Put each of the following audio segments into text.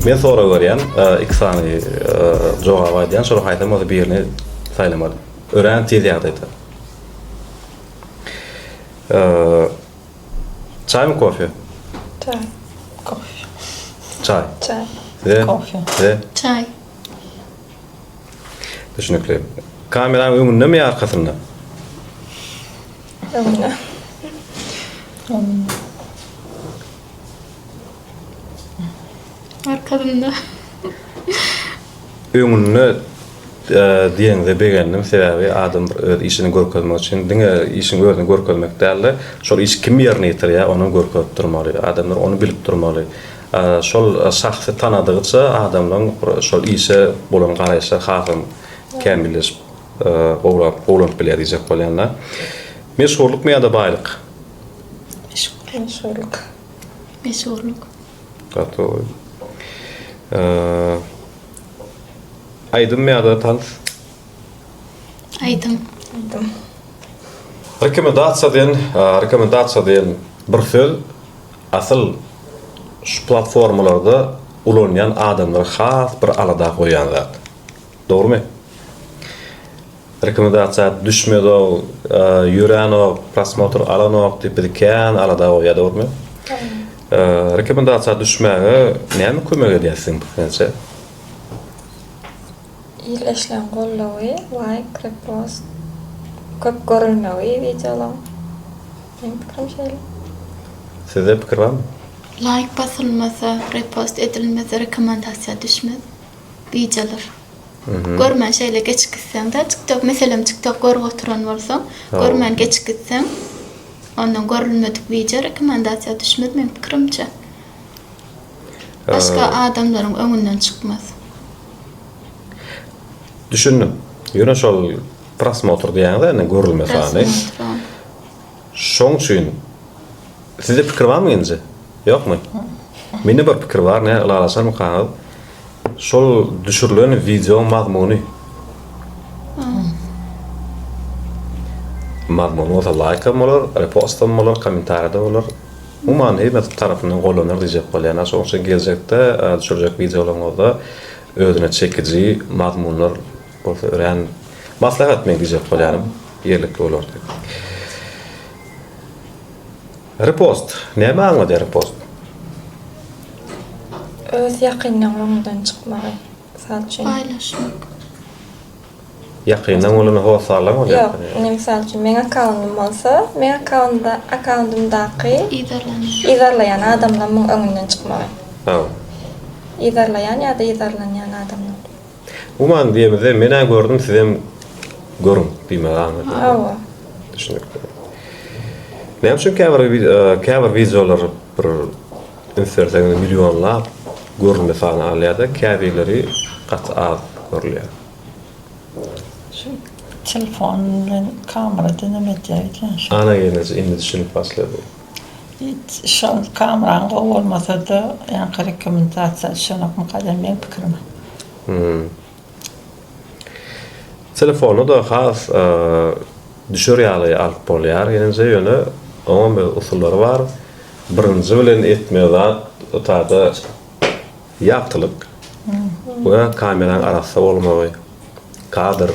Men sorag berýän iki sany jogap aýdýan şolar haýsam bolsa birini saýlamaly. Örän tiz ýagdaýda. Çaýmy kofe? Çaý. Kofe. Çaý. Çaý. Size? Kofe. Size? Çaý. Düşünükli. Kameranyň öňünde mi arkasynda? Öňünde. Öňünde. Arkasynda. Öňünde diýenize begendim, sebäbi adam bir öz işini görkezmek üçin diňe işiň özüni görkezmek däl-de, şol iş kim ýerine ýetirýär, onam görkezip durmaly. Adamlar ony bilip durmaly. Şol şahsy tanadygyça adamlaryň şol işe bolan garaýyşlary hasam kämilleşip, gowlap, gowlanyp bilýär diýjek bolýan-da. Meşhurlykmy ýa-da baýlyk? Meşhurlyk. Meşhurlyk. Gotowy. Aýdym ýa-da tans? Aýdym. Aýdym. Rekomendasiýa diýen, rekomendasiýa diýen bir söz asyl şu platformalarda ulanýan adamlary has bir alada goýýan zat. Dogrymy? Rekomendasiýa düşmezok, ýörenok, prosmotr alanok diýip bizi kän alada goýýar dogrymy? Rekomendasiýa düşmäge näme kömek edýär siziň pikiňizçe? Il eşlen goldawy, laýk, repost, köp görülmegi wideolaň. Meň pikirim şeýle. Sizde pikir barmy? Laýk basylmasa, repost edilmese rekomendasiýa düşmez. wideolar görmän şeýle geçip gitseň-de, TikTok, meselem, TikTok görüp oturan bolsaň, görmän geçip gitseň, ondan görülmedik wideo rekomendasiýa düşmez, meniň pikirimçe. Başga adamlaryň öňünden çykmaz. Düşündim. Ýöne şol prosmotr diýýäňiz-ä indi görülme sany. Prosmotr, a. Şoň üçin. Sizde pikir barmy nji? Ýokmy? Mende bir pikir bar, näme ylalaşarmykaňyz? Şol düşürilen wideoň mazmuny. Mazmuny bolsa laýk hem bolar, repost hem bolar, kommentariýada bolar. Umuman hemme tarapyndan goldanar diýjek bolýan. Şonuň üçin geljekde düşürjek wideolaryňyzda özüne çekiji mazmunlar bolsa örän maslahat men diýjek bolýanym. Ýerlikli bolar diýip. Repost. Näme aňladýar repost? Öz ýakynlaň oňundan çykmagy. Mysal üçin. Paýlaşmak. Ýakynlaň bolanda hosarlaň bolýar. Ýok, indi mysal üçin meň akkauntym bolsa, meň akkaunda akkaundymdaky Yzarlanýan. yzarlaýan adamlamyň öňünden çykmagy. Hawa. Yzarlaýan ýa-da yzarlanýan adamlam. Guman diýemizde men-ä gördüm sizem görüň diýmegi aňladym. Hawa. Düşünikli. Näme üçin käbir käbir wideolar bir üns berseňiz millionlap görülme sany alýar-da, käbirleri gaty az görülýär. Şu telefon bilen kamera deňem edýär ekeni şol. Ana gelneje indi düşünip başlady. Şol Kamran gowy bolmasada ýaňky rekomendasiýa düşenok mukadem meň pikirim. Hum. Telefony da has düşer ýaly alyp bolýar ýenije ýöne oňam öz usullary bar birinji bilen etme zat o tada Ýagtylyk we kameraň arassa bolmagy, kadr,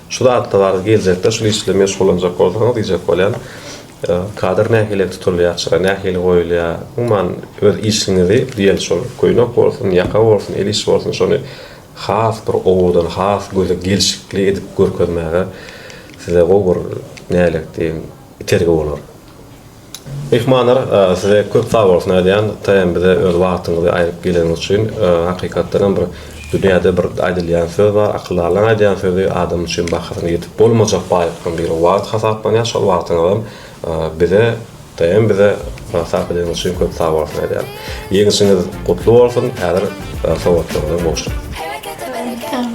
şu zatlar geljekde şul iş bilen meşgullanjak bolsaňyz diýjek bolýan. Kadr nähili tutulýar çyra nähili goýulýar umuman öz işiňizi diýeli şol köýnek bolsun ýaka bolsun el iş bolsun şony has bir owadan has göze gelşikli edip görkezmäge size gowy bir nälet diýiň itergi bolar. Myhmanlar size köp sagbolsun aýdýan TM bize öz wagtyňyzy aýryp geleniňiz üçin hakykatdan hem bir dünýäde bir aýdylýan söz bar akyldarlaň aýdýan sözi adam üçin bahasyna ýetip bolmajak baýlyklaň biri wagt hasaplanýar şol wagtyňyzam bize TM bize sarp edeniňiz üçin köp sagbolsun aýdýan ýeňişiňiz gutly bolsun häzir sowatlaryňyza gowşuň.